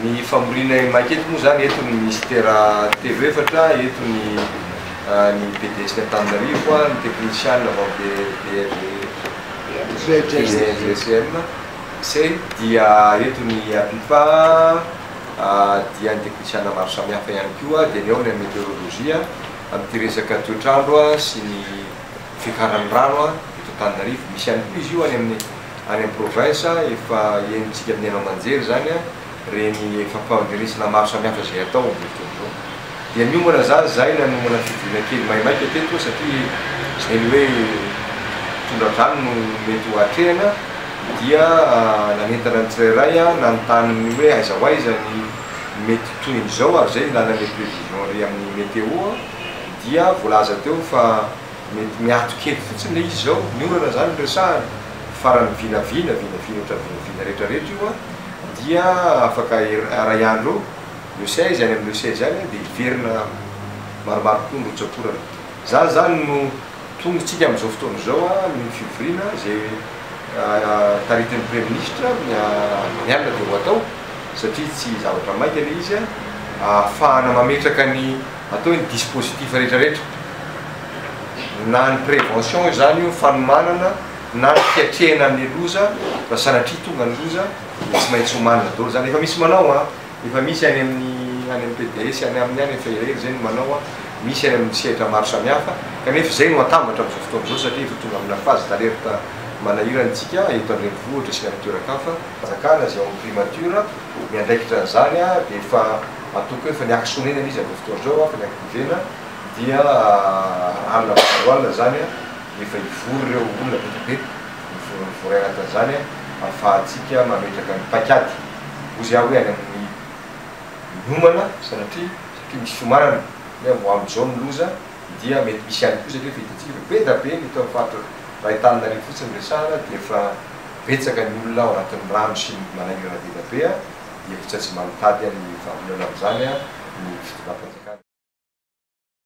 Ny famoriana Emac eto moa izany, eto ny Minisitera telo efatra, eto ny ny PDS-ny Antananarivo, ny teknisiana avy amin'ny DRGCM, CEI, dia eto ny APIPA, dia ny teknisiana maro samihafa ihany koa, dia ny ao ny an'ny meteorolojia, amin'ity resaka toetr'andro sy ny. fiakaran'ny rano eto Antananarivo. Misy ihany koa izy io any amin'ny any amin'ny province, efa henontsika amin'ny haino aman-jery izany ireny fampandrenesana maro samihafa izay atao amin'izao fotoana izao. Dia miomana izany izahay nanomana fivoriana kely maimaika teto satria izay ny hoe tondra-drano no mety ho atrehina dia nanentana ny tsirairay nanontany ny hoe aiza ho aiza ny mety tohin'izao ary izay ny lalana ny prévision ry amin'ny météo. dia voalaza teo fa mety miato kely fotsiny ilay izy izao, ny orana izany no resahana, faran'ny vinavina, vinavina ohatra ny vinavina rehetra rehetra io an, dia afaka iray andro eo, le seize, any amin'ny le seize any an, dia hiverina maromaro kokoa ny rotsakorana. Izany izany no tongotsika amin'izao fotoana izao an, ny fivoriana izay taritin'ny Praiminisitra ny alina dia ho atao, satria tsy zavatra maika ilay izy an, ahafahana mametraka ny. Atao ny dispositif rehetra rehetra, na ny prévention izany io, fanomanana, na ny fiatrehina ny loza, raha sanatria tonga ny loza dia tsy maintsy omanina daholo izany, efa misy manao an, efa misy any amin'ny any amin'ny PDS any aminy any, efa elaela izay no manao an, misy any amin'ny sehatra maro samihafa, kanefa izay no atambatra amin'izao fotoana izao satria efa tonga amina phase d'alerte manahirana isika eto an-drenivohitra sy ny any an-toeran-kafa, fanjakana izay ao amin'ny primature miandraikitra an'izany an, dia efa. Matoky hoe efa niaky sonena ilay izy amin'izao fotoana izao, efa niaky pivena, dia alina mandalo alina izany dia efa hivory ireo olona betsaka be, mivory mivory anatin'izany ahafahantsika mametraka ny paik'ady. Hoy izy aho hoe any amin'ny miomana sanatria satria misy fiomanana hoe ho amin'izao ny loza dia mety misy ihany koa satria efa hitantsika efa be dia be ny eto amin'ny faritra iray Antananarivo fotsiny resahana dia efa betsaka ny olona ao anatin'ny rano sy ny manahirana be dia be. hevitra tsy manitady ny vahaolana amin'izany ny fitondram-panjakana.